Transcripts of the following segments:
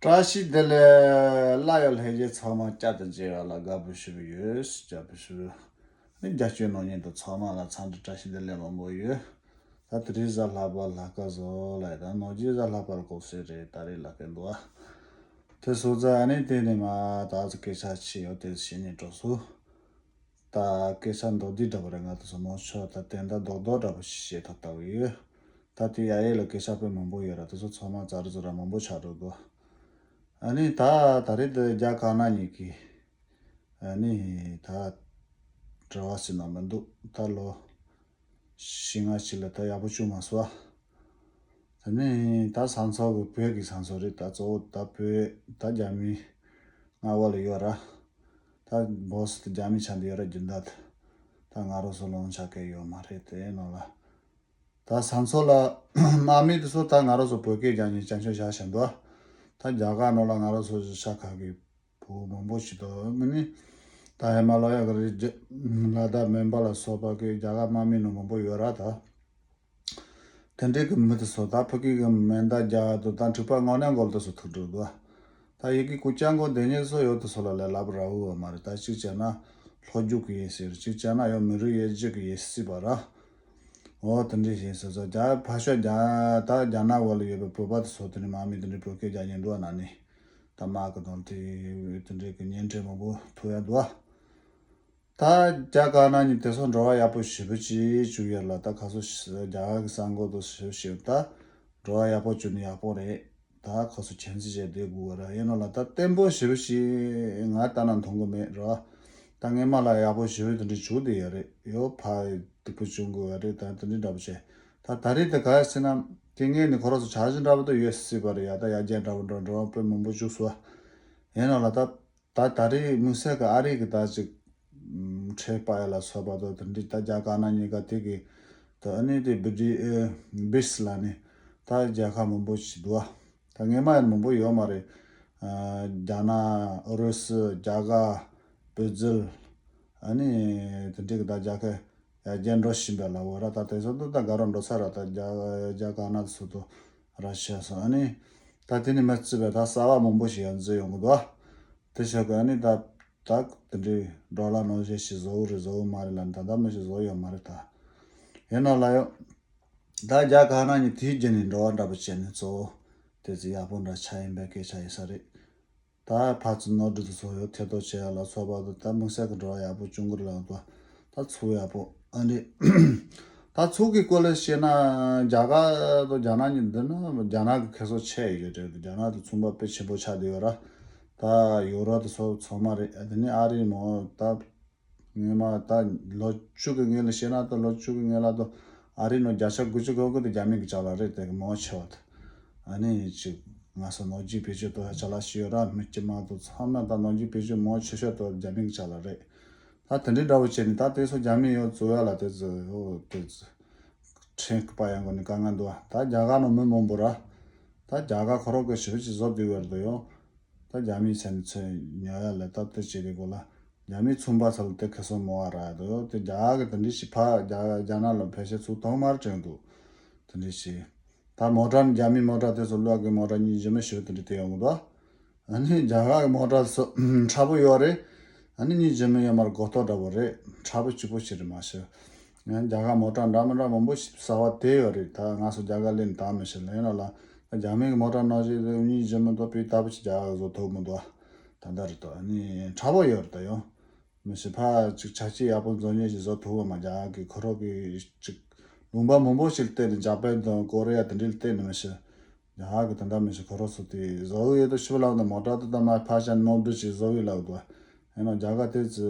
བཀྲ་ཤིས་བདེ་ལེགས། བླ་ཡག་ལྷན་རྒྱས་ཚང་མ་བསྐྱར་དུ་མཇལ་བ་ལ་དགའ་པོ་ཞུ་གི་ཡོད། དགྱ་པོ་ཞུ། ནི་རྒྱ་སྐྱོད་ནོར་ཉེན་དུ་ཚང་མ་ལ་འཚམས་འདྲི་བཀྲ་ཤིས་བདེ་ལེགས་མང་པོ་ཡོད། ད་དེ་རིང་གཟའ་ལྷག་པར་ལྷ་དཀར་བཟོ་ལ་ཡི་དང་ནོར་རྒྱས་གཟའ་ལྷག་པར་གོ་སྲོལ་རེད་ད་རེས་ལ་སྐད་འདུག་ཨ། དེ་སོགས་རྩ་ནས་བལྟས་ནས་མ་ད་ག་ཚོད་སྐད་ཆ་ཆེ་ཡོད་དེ་བཤད་ཉན་སྤྲོ་སོ། ད་སྐད་ཆ་མདོག་སྡིག་འདྲ་པོ་རེ་ང་དང་ཟུར་མོ་མཆོག་ད་དེ་འདྲ་མདོག་མདོག་འདྲ་པོ་ཞིག་བཤད་ཐབས་ལྟ་བུ་ཡོད། ད་དེ་ཡ་ཡས་ལ་སྐད་ཆ་དཔེ་མང་པོ་ཡོད་ར་དེ་ཚོ་ཚང་མ་ཛར་ཛུར་ར་མང་པོ་ཆགས་འགྲོ་དགོས། ཨ་ནི་ད་ད་རེས་འདི་རྒྱ་གང་ན་ཉིད་ཀྱི། ཨ་ནི་ད་བྲེལ་བ་སེ་ན་མི་འདུག་ད་ལོ་ཞི་ང་ཞིག་ལ་ད་ཡག་པོ་ཅུང་མ་སོ། ད་ནི་ད་ཟང་ཚོགས་གི་བོད་ཀྱི་ཟང་ཚོགས་རེད་ད་གཙོ་བོ་ད་བོད་ད་རྒྱ་མི་ང་བ་ལ་ཡོད་ར། ད boss དེ་རྒྱ་མི་ཆ་འདི་ཡོད་ར་རྒྱུ་མདའ་ད་ད་ང་རོ་སོ་ལོང་ཆ་གས་ཡོད་མ་རེད་དེ་ནོ་ལ། ད་ས་མཚོ་ལ་དམག་མི་དེ་སོ་ད་ང་རོ་སོ་བོད་སྐད་རྒྱ་ཉིན་བསྐྱར་མཆོད་བྱ་བཞིན་འདུག་ད་རྒྱ་གར་ནོ་ལ་ང་རོ་སོ་གཞི་ཆ་ག་གི་བུ་མང་པོ་ཞིག་འདུག་ངི་ནི་ད་ཧེ་མ་ལ་ཡ་ག་རི་རྒྱ་ལ་དར་མན་པ་ལ་སོ་པ་གི་རྒྱ་གར་དམག་མི་ནོ་མང་པོ་ཡོད་ར་ད། དེ་འབྲེལ་གྱི་མི་དེ་སོ་ད་ཕུ་ཀི་གི་མེ་མདའ་རྒྱ་དུ་ད་འཁྲུག་པ་ངོ་ནས་འགོལ་དུ་སོ་ཐུག་འགྲོ་དུ་ད་ཡི་གི་ཀུ་ཅང་གོ་འདེ་ཉེ་སོ་ཡོ་དུ་སོ་ལ་ལས་ལབ་ར་འུ་བ་མ་རེ་ད་གཅིག་བྱས་ན་ལྷོ་རྒྱུག་གི་ཡིན་ཟེར་གཅིག་བྱས་ན་ཡོ་མི་རུ་ཡེ་རྗེ་གི་ཡེ་སྲིད་པ་ར་འོ་དེ་འདྲི་བྱས་སོ་ད་རྒྱ་ཕ་ཤོ་རྒྱ་ད་རྒྱ་ནག་བོ་ལ་ཡོད་པའི་བོད་པ་དུ་སོ་དེ་ནི་མ་མི་དེ་འདྲི་བོད་སྐད་རྒྱ་ཉན་དུ་བ་ན་ནི་ད་མ་གི་དོན་དེ་དེ་འདྲི་གི་ཉན་འཕྲད་མང་པོ་ཐུག་ཡ་དུ་བ། ད་རྒྱ་དཀར་ནག་གཉིས་དེ་སོགས་འགྲོ་བ་ཡག་པོ་ཞེ་པོ་ཅི་བྱུང་ཡོད་ལ་ད་ག་ཚོད་རྒྱ་གར་གི་གསར་འགོད་དུ་ཞུ་བཞིན་ཡོད་ད། འགྲོ་བ་ཡག་པོ་བྱུང་ནི་ཡག་པོ་རེད་ད་ཁོ་ཚོ་ཁྱིམ་མཚེས་བྱས་སྡོད་དགོས་ར་ཡིན་ནོ་ལ་ད་བརྟན་པོ་ཞེ་པོ་ཞིག་ང་ལྟ་ན་མཐོང་གི་མེད་ར་ད་ངའི་མ་ལ་ཡག་པོ་ཞེ་པོ་དེ་འདྲ་བྱུང་དེ་ཡོད་རེད་ཡོ་ཕ་སྡིག་པོ་བྱུང་དགོས་ར་རེད་ད་དེ་འདྲ་འདྲ་པོ་བྱས་ད་ད་རེས་དེ་ག་ཡ་སྲིད་ནམ་དེ་ངའི་ནི་ཁོ་རོགས་སུ་ཆགས་གཞི་འདྲ་པོ་དུ་ཡོད་སྲིད་པ་རེད་ཡ་ད་ཡ་རྒྱལ་འདྲ་པོ་འགྲོ་འགྲོ་བ་པོད་མང་པོ་བཅུག་སུ་ར་ཡིན་ནོ་ལ་ད། ད་ད་རེས་དམིགས་བསལ་གྱི་ཨ་རིག་གི་དག་ཅིག། ཁྲེ་པ་ཡ་ལ་སོགས་པ་དོ་དེ་འདྲའི་ད་རྒྱ་ག་ན་གཉིས་ཀ་དེ་གི། ད་ཨ་ནི་དེ་བི་དི་ཨེ། བིས་ལ་ནི། ད་རྒྱ་ག་མང་པོ་ཞིག་འདུག་ཨ། ད་ངེས་མ་ཡིན་མང་པོ་ཡོད་མ་རེད། རྒྱ་ནག། ཨུ་རུ་སུ། རྒྱ་གར། བི་རྫིལ། ཨ་ནི། དེ་འདྲའི་གི་ད་རྒྱ་ག། ཡར་རྒྱས་འགྲོ་བཞིན་པའི་ལ་བོ་ར་ད་དེ་ཚོ་དུ་ད་ག་རུ་འགྲོ་ཚར་ར་ད་རྒྱ་ག་ན་སུ་དུ། ར་བྱས་སོང་ཨ་ནི། ད་དེ་ནས་མི་རྩིས་པའི་ད་གསར་བ་མང་པོ་ཞིག་ཡང་འཛུལ་ཡོང་གི་འདུག་ཨ། དེ་ཆོག་གི་ཨ་ནི། ད་དེ་འདྲའི་འབྲོག་ལ་ནང་བཞིན་ཞིག་བཟོ་གི་རེད་བཟོ་གི་མ་རེད་ལ་ནི་ད་ལྟ་མི་ཞིག་བཟོ་ཡོད་མ་རེད་ད། ཡིན་ནོ་ལ་ཡོང། ད་རྒྱ་གར་ནང་གི་དུས་རྒྱུན་ནས་འགྲོ་བ་འདྲ་པོ་བྱས་ནས་གཙོ་བོ། དེ་ཚོ་ཡག་པོ་འདྲ་ཆགས་ཡིན་པའི་སྐད་ཆ་ཡིན་ས་རེད། ད་བར་ཚུར་ནོར་འཁྲུལ་དུ་སོག་ཡོད་ཐེ་གཏོགས་བྱས་ཡ་ལ་སོག་བར་དུ་ད་དམིགས་བསལ་གྱི་བྲོ་བ་ཡག་པོ་ཅུང་གུ་རུ་ལགས་དོ། ད་ཚུགས་ཡག་པོ་ཨ་རེད། ད་ཚུགས་ཀྱི་སྐོར་ལ་བཤད་ན་རྒྱ་གར་དང་རྒྱ་ནག་གཉིས་འདི་ན་རྒྱ་ནག་གི་ཁེ་སོག་ཆེ་ཡོད་རེད་དེ་རྒྱ་ནག་དང་མཚུངས་པ་དཔེ་ཆེན་པོ་ཆགས་བསྡད་ཡོད་ར། ད་ཡོ་རོབ་དང་སོག་ཚང་མ་རེད་དེ་ནས་ཨ་རིའི་མོ་ད། སྔོན་མ་ད་ལོ་བཅུ་གི་སྔོན་ལ་བཤད་ན་ད་ལོ་བཅུ་གི་སྔོན་ལ་དོ་ཨ་རི་ནོ་རྒྱ་ཆ་དགུ་བཅུ་གོ་དགུ་དེ་རྒྱ་མིང་གི་ཆ་ལ་རེད་དེ་གི་མོ་ཆེ་བ་དེ་ཨ་ནི་ཅིག་ང་ས་ནོར་རྒྱུས་བེད་སྤྱོད་དོ་ཧ་ཆ་ལ་ཤི་ཡོད་ར་མི་སྐྱི་མ་དོ་མཚམས་ན་ད་ནོར་རྒྱུས་བེད་སྤྱོད་མོ་ཆེ་ཤོས་དོ་རྒྱ་མིང་གི་ཆ་ལ་རེད་ད་དེ་འདྲི་འདྲ་བོ་བྱེད་ནི་ད་དེ་སོ་རྒྱ་མིང་ཡོད་ཙུ་ཡ་ལ་དེ་ཙུ་ཡོ་དེ་ཙུ་ཁྲེན་ཁི་པ་ཡ་མགོ་ནི་ཀ་ང་འདུ་ད་རྒྱ་ག་ནོ་མི་མོ་འབུ་ར་ད་རྒྱ་ག་ཁོ་རོག་གི་ཞི་བི་ཅི་བཟོ་དུས་བེར་དུ་ཡོ་ད་རྒྱ་མིང་ཆ་ནི་ཚོས་ཉོ་ཡ་ལེ་ད་དེ་བྱེད་དེ་གོ་ལ་རྒྱ་མིས་ཚོང་པ་ཚ་ལ་དེ་ཁེ་སོ་མོ་བ་རག་འདུག་དེ་རྒྱ་གི་དེ་འདྲི་ཞིག་ཕ་རྒྱ་ནག་ལ་ཕེ་ཤེ་ཚུགས་ཐོག་མར་བྲོས་འདུག་དེ་འདྲི་ཞིག་ད་མོ་ཏྲ་ནི་རྒྱ་མིའི་མོ་ཏྲ་དེ་ཚོ་ལོག་གི་མོ་ཏྲ་གཉིས་གཞི་མི་ཞུ་དེ་འདྲི་དེ་ཡོང་གི་འདུག་ཨ་ནི་རྒྱ་ག་གི་མོ་ཏྲ་དེ་ཚོ་ཁྲ་པོ་ཡོད་རེད་ཨ་ནི་གཉིས་གཞི་མི་ཡོད་མར་གོ་ཏོ་འདྲ་པོ་རེད་ཁྲ་པོ་སྐྱུག་པོ་ཞིག་རེད་མ་ཞུ། ངས་རྒྱ་གར་མོ་ཀྲ་འདྲ་མི་འདྲ་མང་པོ་ཞིབ་ཟ་བ་དེ་ཡོད་རེད་ད་ང་སུ་རྒྱ་གར་ལས་འདའ་མི་ཤེས་ལན་རེ་ལ་ད་རྒྱ་མིའི་གི་མོ་ཀྲ་ནང་བཞིན་རེད་འུ་གཉིས་བརྗེ་མི་འདོད་པའི་ད་བུ་ཆེ་རྒྱ་གར་གི་བཟོ་ཐོབ་མི་འདོད་ཨ་ད་ལྟ་རེད་དོ་ནི་ཁྲ་བོ་ཡོད་རེད་ད་ཡོང་མི་ཤེས་ཕ་ཅིག་ཆ་སྐྱིད་ཡག་པོ་མཛོ་ཉེ་ཞིག་བཟོ་ཐུབ་འོ་མ་རྒྱ་གར་གི་ཁུ་ཧྲོག་གི་ཅིག་ལུང་པ་མང་པོ་ཞིག་བལྟས་ནས་འཇག་པན་དང་ཀོ་རེ་ཡ་དེ་འདྲས་བལྟས་ནི་མི་ཤེས་རྒྱ་གར་གི་དེ་འདྲ་མི་ཤེས་ཁུ་ཧྲོག་སུ་དེ་བཟོ་འི་ཡོད་དོ་ཤི་བ་ལགས་ནི་མོ་ཀྲ་དེ་ད་མ་ཕ་ཞ་ནོར་འབྲི་ཞིག་བཟོ་འི་ལགས་དོ་ཨེ་ན་རྒྱ་གར་དེ་ཅི།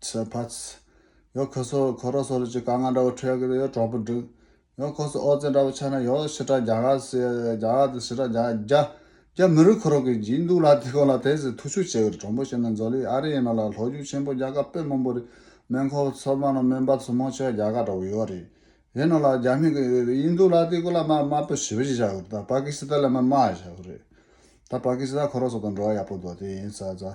ཚེ་བྷས། ཡོ་ཁོ་སོ་ཁོ་རོ་སོ་ལུ་ཅི་ཀ་ང་འདྲ་བོ་ཁྲོས་ཀི་ཡོ་གྲོགས་པོ་འགྲིག། ཡོ་ཁོ་སོ་ཨོ་ཙེ་འདྲ་བོ་ཆ་ན་ཡོ་ཤི་ཏྲ་རྒྱ་གར་སི་རྒྱ་གར་དང་ཤི་ཏྲ་རྒྱ་རྒྱ། རྒྱ་མི་རིགས་ཁོ་རོ་ཀི་འགྱིག་འདུག་ལ་དེ་སྐོར་ལ་དེ་ཟི་ཐུགས་ཆུ་བྱེད་གི་རི་གྲོང་པོ་ཤི་ན་མཛོ་ལི་ཨ་རི་ཡིན་ནོ་ལ་ལྷོ་རྒྱུག་ཆེན་པོ་རྒྱ་གར་པེ་མོན་པོ་རི་སྨན་ཁོ་བོ་ཚོར་མ་ནོ་སྨན་པ་ཚོ་མོ་ཆོས་རྒྱ་གར་འདྲ་བོ་ཡོ་རི་ཡིན་ནོ་ལ་རྒྱ་མི་གི་ཡིན་འདུག་ལ་དེ་སྐོར་ལ་མ་མ་པོ་ཞི་བ་ཞིག་བྱ་གི་རེད་ད་པ་ཀི་སི་ཏ་ལ་མ་མ་བྱ་གི་རེད་ད་པ་ཀི་སི་ཏ་ཁོ་རོ་སོ་དང་འགྲོ་བ་ཡག་པོ་འདུག་དེ་ཡིན་ས་ས།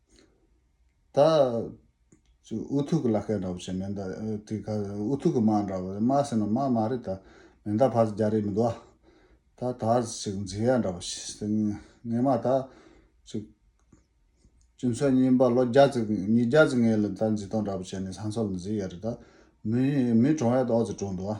ད། ཨུ་ཐུག་གི་ལ་སྐད་འདྲ་བོ་བྱེད་མེད་ད། དེ་ག་ཨུ་ཐུག་གི་སྨྲ་འདྲ་བོ་རེད་སྨྲ་ཟེར་ན་སྨྲ་མ་རེད་ད། མེ་མདའ་ཕར་རྒྱག་རེས་མི་འདུག་ད། ད་ཅིག་མཛེས་ཡ་འདྲ་བོ་བྱེད། ངེད་མ་ད། ཅིག། སྤྱི་ཚོགས་རྙིང་པ་ལོ་བརྒྱ་ཙིག་ཉིས་བརྒྱ་ཙིག་ངེད་ལ་ད་མཛེས་སྟངས་འདྲ་བོ་བྱས་ནས་ས་མཚོ་ལ་མཛེས་ཡ་རེད་ད། མི་གྲོངས་ཡ་ད་ཨོ་རྩལ་གྲོངས་འདུག་ཨ།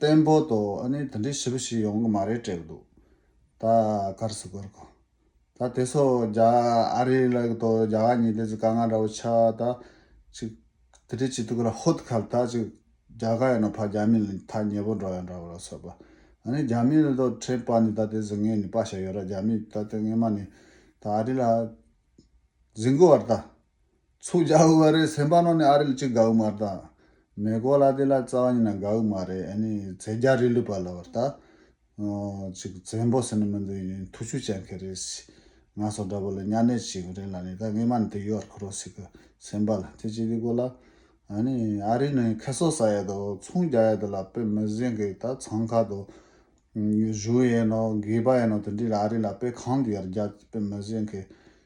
བརྟན་པོ་དོ་ཨ་ནི་དེ་འདྲའི་བྱིས་པ་ཞིག་ཡོང་གི་མ་རེད་སྤྲད་གི་འདུག་ད་གར་སུ་གར་གོ། ད་དེ་སོ་རྒྱ་ཨ་རི་ལ་གི་དོ་རྒྱ་ག་ཉི་དེ་ཚོ་ག་ང་འདྲ་བོ་ཆགས་ད་ཅིག་དེ་འདྲའི་བྱིས་དུག་ལ་ཧོ་ད་གར་ད་ཅིག་རྒྱ་ག་ཡིན་ན་ཕ་རྒྱ་མི་ལ་ཐ་སྙད་པོ་འགྲོ་ཡ་འདྲ་བོ་ལ་སོ་པ་ཨ་ནི་རྒྱ་མི་ལ་དོ་ཁྲེལ་པ་ནི་ད་དེ་ཚོ་ངས་ནི་པ་ཞེ་ཡོད་ར་རྒྱ་མི་ད་དེ་ངས་མ་ནི་ད་ཨ་རི་ལ་གཟིགས་གི་བར་ད་ཚུར་རྒྱག་དགོས་པ་རེད་སེམས་པ་ནོར་ནས་ཨ་རི་ལ་ཅི་དགའ་གི་མ་རེད་ད། མེ་གོ་ལ་དེ་ལ་རྩ་བ་ཉིད་ན་དགའ་གི་མ་རེད་ཨ་ནི་ཚེ་རྒྱ་རི་ལུས་པ་ལ་བར་ད། ཅིག་བཙན་པོ་ཟེར་ནི་མི་འདུག་ཡིན་ཐུགས་ཆུ་བཅད་མཁན་རེད་སི། ང་སོགས་འདྲ་པོ་ལ་གཉའ་གནས་བྱེད་དགོས་རེད་ལ་ནི་ད་ངེད་མ་ནི་དེ་ཡོད་བར་འཁུར་རོགས་སི་གི་སེམས་པ་ལ་དེ་ཅི་དེ་གོ་ལ། ཨ་ནི་ཨ་རི་ནི་ཁེ་སོ་ཟ་ཡས་དོ་ཚུང་རྒྱག་ཡས་དོ་ལ་དཔེ་མི་གཟན་གི་ད་ཚང་ཁ་དོ། བཞུགས་ཡས་ནོ་དགེས་པ་ཡས་ནོ་དེ་འདྲི་ལ་ཨ་རི་ལ་དཔེ་གང་དུ་ཡར་རྒྱག་ཅིག་དཔེ་མི་གཟན་གི།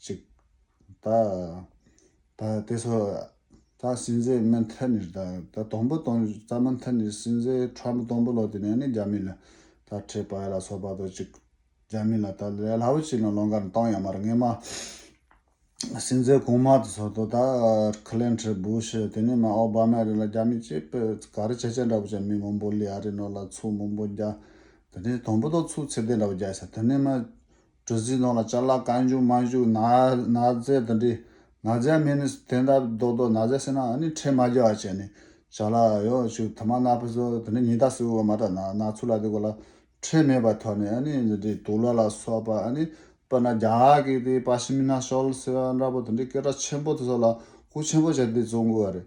གཅིག། ད་ད་དེ་ཚོ་ད་སྲིད་འཛིན་མི་མཐུན་ནས་ད་ད་དོང་པོ་དོང་རྩ་མི་མཐུན་ནས་སྲིད་འཛིན་ཁྲམ་པ་དོང་པོ་ལོ་དེ་ནས་ནི་རྒྱ་མི་ལ་ད་ཁྲེས་པ་ལ་སོགས་པ་དོ་གཅིག་རྒྱ་མི་ལ་ད་ལས་སླ་བོ་ཅིག་ན་ལོང་ཀར་མཏང་ཡ་མ་རེད་ངས་མ་སྲིད་འཛིན་གོང་མ་དེ་ཚོ་དོ་ད་ཁི་ལེན་ཁྲི་བུ་ཤི་དེ་ནས་མ་ཨོ་བྷ་མ་རེད་ལ་རྒྱ་མི་སྤྱི་པི་ག་རི་ཆེ་ཆེ་འདྲ་བོ་ཅིག་མི་མང་པོ་ལི་ཨ་རི་ནོ་ལ་ཚུགས་མང་པོ་རྒྱ་དེ་ནས་དོང་པོ་དོ་ཚུགས་ཚད་ལྡན་འདྲ་བོ་རྒྱ་ས་དེ་ནས་མ། གྲུ་བཞིའི་ནང་ལ་ལྕགས་ལ་རྐང་བཞུགས་མ་བཞུགས་ན་ན་བཙལ་དང་འདྲིས་ན་བཙལ་མིན་ནི་དེ་འདྲ་རྡོག་རྡོག་ན་བཙལ་སྲིད་ན་ནི་ཁྲེལ་མ་རྒྱག་བར་བྱས་ནས་བཞག་ལ་ཡོ་ཆུ་དུ་མ་ནག་པོ་བཟོ་དང་འདྲིས་ཉི་ཟླ་སྲུ་བ་མ་དྲག་ན་ནག་ཆུ་ལ་དེ་གོ་ལ་ཁྲེལ་མེད་པར་ཐོགས་ནས་ནི་འདྲིས་དུག་ལ་ལ་སོགས་པ་ནི་སྤོས་ན་རྒྱ་གིས་དེ་པ་ཤི་མིན་ན་ཤོལ་ཟེར་བ་འདྲ་པོ་དང་འདྲིས་སྐད་གྲགས་ཆེན་པོ་དེ་སོགས་ལ་ཧུ་ཆེན་པོ་བྱས་ཏེ་བཙོང་དགོས་པ་རེད་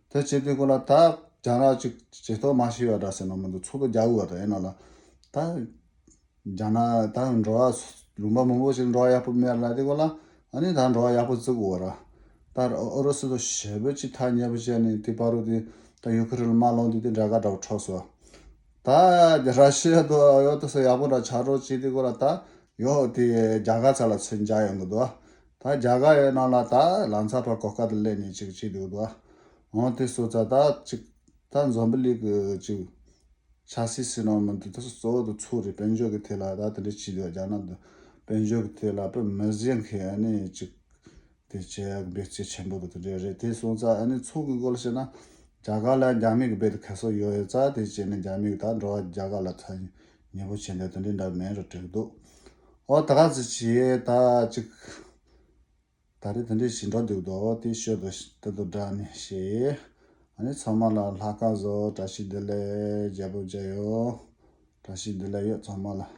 དེ་བྱེད་དུས་གོ་ལ་དག་རྒྱང་རག་ཅིག་ཇེ་མཐོ་མ་ཤི་བ་འདྲ་ཟེར་ན་མི་འདུག་ཚོགས་པ་རྒྱག་དགོས་པ་དག་ཡིན་ནོ་ལ། ད་རྒྱང་ན་ད་འགྲོ་བ་ལུང་པ་མང་པོ་ཞིག་འགྲོ་བ་ཡག་པོ་མེད་ར་ལ་དེ་གོ་ལ་ཨ་ནི་ད་འགྲོ་བ་ཡག་པོ་བརྩི་དགོས་ར། ད་ཨོ་རོ་སི་དང་ཞེ་བོད་ཀྱིས་ཐག་ཉེ་པོ་བཅད་ནས་དེ་པར་རུ་དེ་ད་ཡུ་ཁི་རི་ལ་མ་ལོངས་དུས་དེ་འདྲ་ག་འདྲ་བོ་འཕྲོག་སོ། ད་ར་ཤི་ཡ་དུ་ཨོ་ཡོ་དུ་སོ་ཡག་པོ་འདྲ་ཆགས་འགྲོ་བྱེད་དེ་གོ་ལ་དག་ཡོད་དེ་རྒྱ་གར་ཚ་ལ་ཚོད་འཇགས་ཡོང་གི་འདུག་ད་རྒྱ་གར་ཡོད་ནང་ལ་ད་ལང་ཚ་བར་གོ་སྐབས་དུ་སླེབས་ནས་ཅིག་བྱེད་འདུག་ད། འོང་དེ་སོ་ཚ་ད་ཅིག། ད་འཛོམས་པི་ལིག་གི་ཅིག། ཆ་སི་སི་ནང་མི་འདུག་ད་སོ་གཙོ་བོ་དུ་ཚོགས་རེད་དཔལ་འབྱོར་གི་ཐད་ལ་ད་དེ་འདྲ་བྱེད་འདུག་རྒྱ་ནག་དུ་དཔལ་འབྱོར་གི་ཐད་ལ་པི་མི་བཟི་མཁན་ཨ་ནི་ཅིག། དེ་བྱས་གི་འབད་བརྩེ་ཆེན་པོ་དུ་དེ་འདྲ་རེད་དེ་སོང་ཚ་ཨ་ནི་ཚོགས་གི་སྐོར་ལ་བཤད་ན། རྒྱ་གར་ལ་རྒྱ་མི་གི་རྦད་དུ་ཁ་གསོ་ཡོད་ཡོད་ཚ་དེ་བྱས་ནས་རྒྱ་མི་གི་ད་འགྲོ་བ་རྒྱ་གར་ལ་ཚ། ཉེས་པོ་བྱེད་འདོད་དོན་འདི་འདྲ་མེད་རུ་བྲིས་འདུག་ཨོ་ད་ག་ཟེ་བྱེད་ད་ཅིག། ད་རེས་དེ་འདྲའི་བྱེད་འགྲོ་འདུག་དོ་དེ་ཤོད་དོ་ད་དོ་འདྲ་ནི་བྱེད། ཨ་ནི་ཚང་མ་ལ་ལྷ་སྐལ་བཟོ་བྲ་ཤིག་འདི་ལས་རྒྱལ་པོ་མཇལ་ཡོད་བྲ་ཤིག་འདི་ལས་ཡོད་ཚང་མ་ལ།